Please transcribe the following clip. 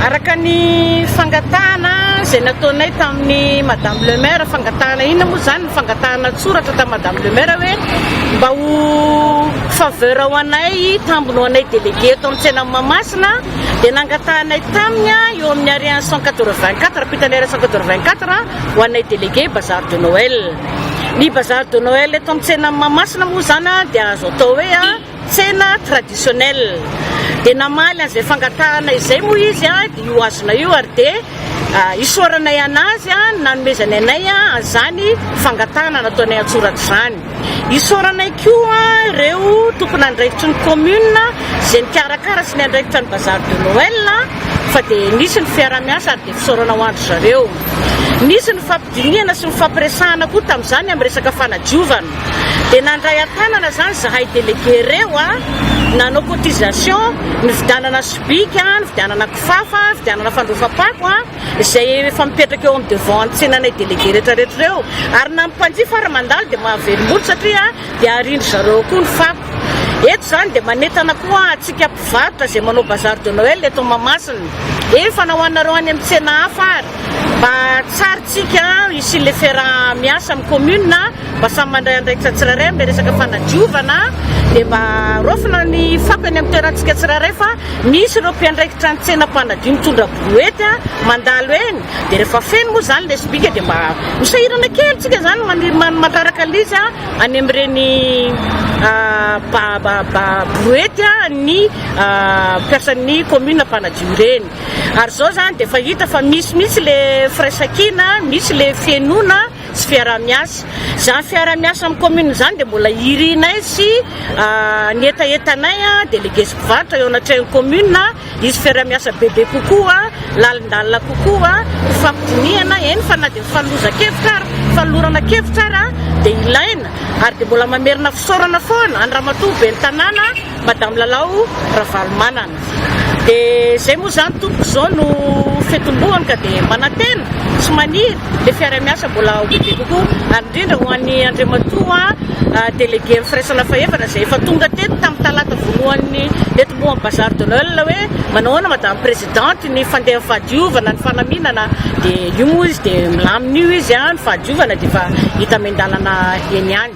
Araka ny fangatahana izay nataonay tamin'ny Madame le Maire, fangatahana inona moa izany? Fangatahana an-tsoratra tamin'i Madame le Maire hoe mba ho faveur ho anay, tambiny ho anay délégué eto amin'ny tsenan'i Mahamasina dia nangatahanay taminy eo amin'ny ariary cent quatre-vingt-quatre, ampitan'ny ariary cent quatre-vingt-quatre ho anay délégué bazar de Noël. Ny bazar de Noël eto amin'ny tsenan'i Mahamasina moa izany dia azo atao hoe Tsena traditionnel dia namaly an'izay fangatahana izay moa izy dia io hazona io ary dia isaoranay an'azy nanomezany anay an'izany fangatahana nataonay an-tsoratra izany. Isaoranay koa ireo tompon'andraikitry ny commune izay nikarakara sy niandraikitra ny bazar de Noël fa dia nisy ny fiaraha-miasa ary dia fisaorana ho an-dry zareo. Nisy ny fampidinihana sy ny fampiresahana koa tamin'izany amin'ny resaka fanadiovana. Dia nandray an-tanana izany izahay délégué ireo, nanao cotisation, nividianana sobika, nividianana kifafa, nividianana fandrofa-pako, izay efa mipetraka eo amin'ny devant ny tsenanay délégué rehetrarehetra ireo, ary na ny mpanjifa ary mandalo dia mahavelom-bolo satria dia arindry zareo koa ny fako. Eto izany dia manentana koa antsika mpivarotra izay manao bazar de Noël eto Mahamasina, efa na ho anareo any amin'ny tsena hafa ary, mba hatsarintsika hisian'ilay fiaraha-miasa amin'ny commune. Mba samy mandray andraikitra tsirairay amin'ilay resaka fanadiovana dia mba raofina ny fako eny amin'ny toerantsika tsirairay fa misy ireo mpiandraikitra ny tsena mpanadio mitondra brouette mandalo eny dia rehefa feno moa izany ilay sobika dia mba ho sahirana kely tsika izany maniry mandraraka ilay izy any amin'ireny brouette ny mpiasan'ny commune mpanadio ireny ary izao izany dia efa hita fa misy mihitsy ilay firaisankina misy ilay fihainoana Tsy fiaraha-miasa. Izany fiaraha-miasa amin'ny kaominina izany dia mbola irinay sy ny hetahetanay, délégués sy mpivarotra, eo anatrehan'ny kaominina. Hisy fiaraha-miasa bebe kokoa, lalindalina kokoa, hifampidinihana, eny fa na dia mifanolozan-kevitra ary, mifanolorana kevitra ary dia ilaina. Ary dia mbola mamerina fisaorana foana an'i Ramatoa ben'ny tanàna. Madame Lalao Ravalomanana. Dia izay moa izany tompoko izao no fitomboany ka dia manantena sy maniry ilay fiarahamiasa mbola ho bebe kokoa ary indrindra ho an'i Andriamatoa Délégué-n'ny Firaisana Fahefana izay efa tonga teto tamin'ny talata voalohan'ny nitomboan'ny Bazar de Noël hoe manao ahoana Madame Présidente ny fandehan'ny fahadiovana, ny fanaminana dia io moa izy dia milamina io izy an, ny fahadiovana dia efa hita miandalana eny ihany.